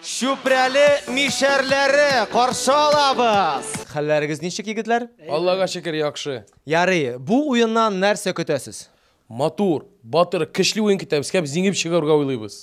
Чүпрәле мишәрләре каршы алабыз. Хәлләрегез ничек, егетләр? Аллага шөкер, яхшы. Ярый, бу уеннан нәрсә көтәсез? Матур, батыр, көчле уен көтәбез, кәп зиңеп чыгарга уйлыйбыз.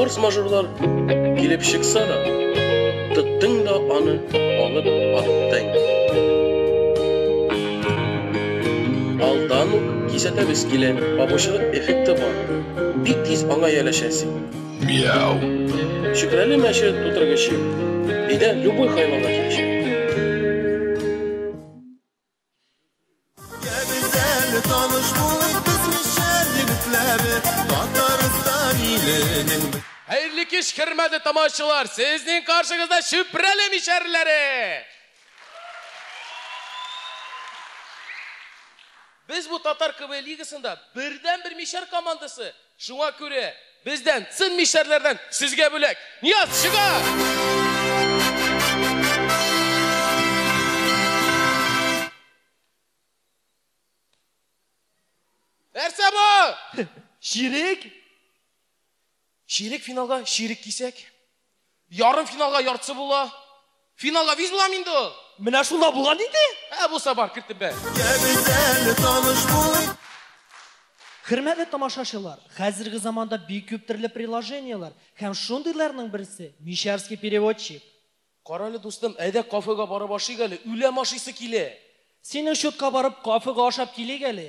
Форс-мажорлар килеп чыкса да, тоттың да аны алып аттың. Алдан ук кисәтәбез килә, пабучылык эффекты бар. Бик тиз аңа яләшәсең. Мяу. Чүпрәле мәче тутыргычы. Өйдә любой хайванга килешә. Хәерле кич, хөрмәтле тамашачылар! Сезнең каршыгызда Чүпрәле мишәрләре! Без бу татар КВН лигасында бердәнбер мишәр командасы, Шуңа күрә, бездән, цин мишәрләрдән, сезгә бүләк! Нияз, чыга! Нәрсә бу? Чирек? Чирек финалга, чирек кисәк. Ярым финалга яртысы була. Финалга виз була инде ул. Менә шунда булган инде. Ә булса бар, кертеп бәр. Хөрмәтле тамашачылар, хәзерге заманда бик күп төрле приложениеләр һәм шундыйларның берсе Мишәрский переводчик. Карале, дустым, әйдә кафега барып ашыйк әле, үләм ашыйсы килә. Синең счетка барып кафега ашап килик әле.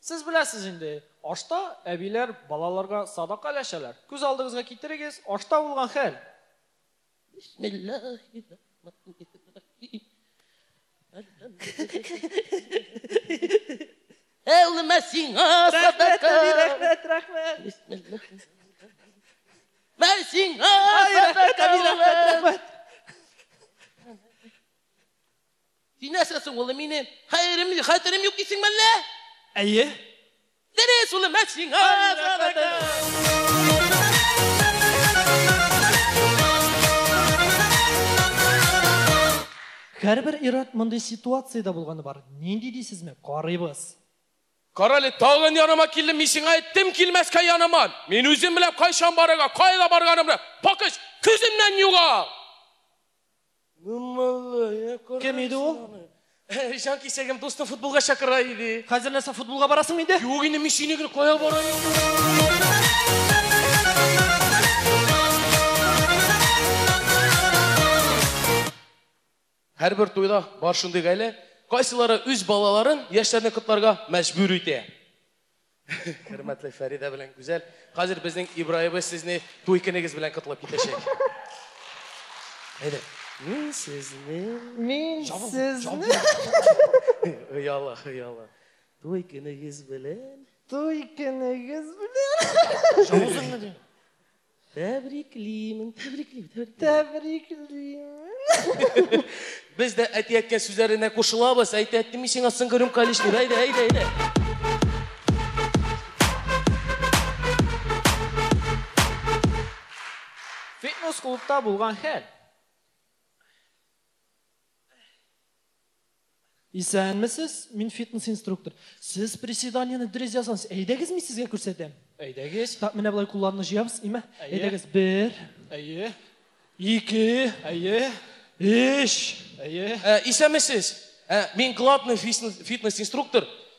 Сез беләсез инде, ашта әбиләр балаларга садака өләшәләр. Күз алдыгызга китерегез, ашта булган хәл. Бисмиллаһи-рахманир-рахим. Әлхәмдүлиллаһи. Әй улым, мә сиңа садака. Рәхмәт, рәхмәт. Бисмиллаһи-рахманир-рахим. Мә сиңа садака. Рәхмәт, рәхмәт. Син нәрсә соң, улым, минем хәерем, хәтерем юк дисеңме әллә? Әйе. Дөрес, улым, ә сиңа рәхмәт. Һәрбер ир-ат мондый ситуациядә булганы бар. Нинди дисезме? Карыйбыз. Карале, тагын яныма килдем, мин сиңа әйттем килмәскә яныма. Мин үзем беләм кайчан барырга, кайда барганымны. Пакыч, күземнән югал! Кем иде ул? Җан кисәгем дустым футболга чакыра иде. Хәзер нәрсә футболга барасың инде? Юк инде мин сине генә кая барайым? Һәрбер туйда бар шундый гаилә, кайсылары үз балаларын яшьләрне котларга мәҗбүр итә. Хөрмәтле Фәридә белән Гүзәл. Хәзер безнең Ибраебыз сезне туй көнегез белән котлап китәчәк. Әйдә. Мин сезне... Мин сезне... Хыялы, хыялы. Туй көнегез белән... Туй көнегез белән... Җавызыммы дим? Тәбриклимен, тәбриклим, тәбриклим. Тәбриклим. Без дә әти әткә сүзләренә кушылабыз. Әйтә әтте мин сиңа соңгы рюмка лишь дип. Әйдә, әйдә, әйдә. Фитнес клубта булган хәл. Исәнмесез, мин фитнес-инструктор. Сез приседаниены дөрес язгансыз. Әйдәгез, мин сезгә күрсәтәм. Әйдәгез. Так, менә болай кулларны җыябыз, име? Әйдәгез, бер. Әйе. Ике. Әйе. Өч. Әйе. Исәнмесез. Мин главный фитнес-инструктор.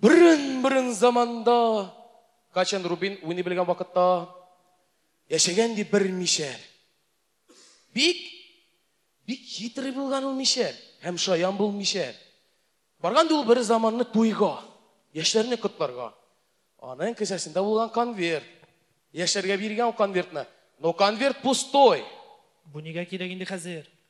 Борын-борын заманда, качан Рубин уйный белгән вакытта, яшәгән ди бер мишәр. Бик, бик хитрый булган ул мишәр, һәм шаян бул мишәр. Барган ул бер заманны туйга, яшьләрне котларга. Аның кесәсендә булган конверт. Яшьләргә биргән конвертны. Но конверт пустой. Бу нигә кирәк инде хәзер?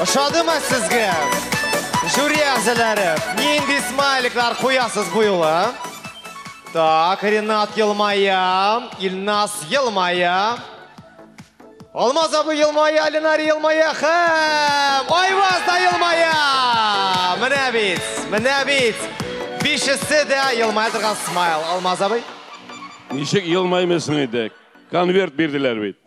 Ошадымы сезгә? Жюри әгъзалары, нинди смайликлар куясыз бу юлы? Так, Ренат елмая, Илнас елмая. Алмаз абый елмая, Ленар елмая һәм Айваз да елмая. Менә бит, менә бит. Бишесе дә елмая торган смайл. Алмаз абый. Ничек елмаймыйсың инде? Конверт бирделәр бит.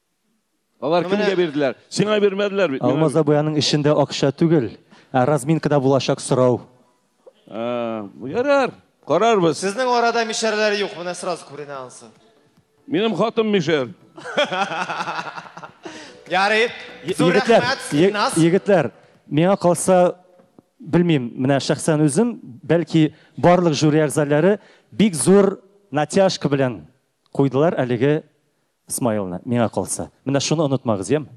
Алар кемгә бирделәр? Сиңа бирмәделәр бит. Алмаз абыяның эшендә акча түгел, ә разминкада булачак сорау. Ярар, карарбыз. Сезнең арада мишәрләр юк, менә сразу күренә ансы. Минем хатым мишәр. Ярый. Зур рәхмәт, Илназ. Егетләр, миңа калса, белмим, менә шәхсән үзем, бәлки барлык жюри әгъзалары бик зур натяжка белән куйдылар әлеге Смайлны, миңа калса. Менә шуны онытмагыз, яме?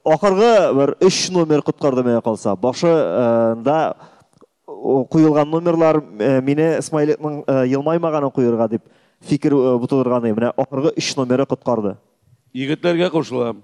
Ахыргы бер өч номер коткарды миңа калса. Башы нда куелган номерлар мине Смайликның елмаймаганын куерга дип фикер бутырырганы. Менә ахыргы өч номеры коткарды. Егетләргә кушылам.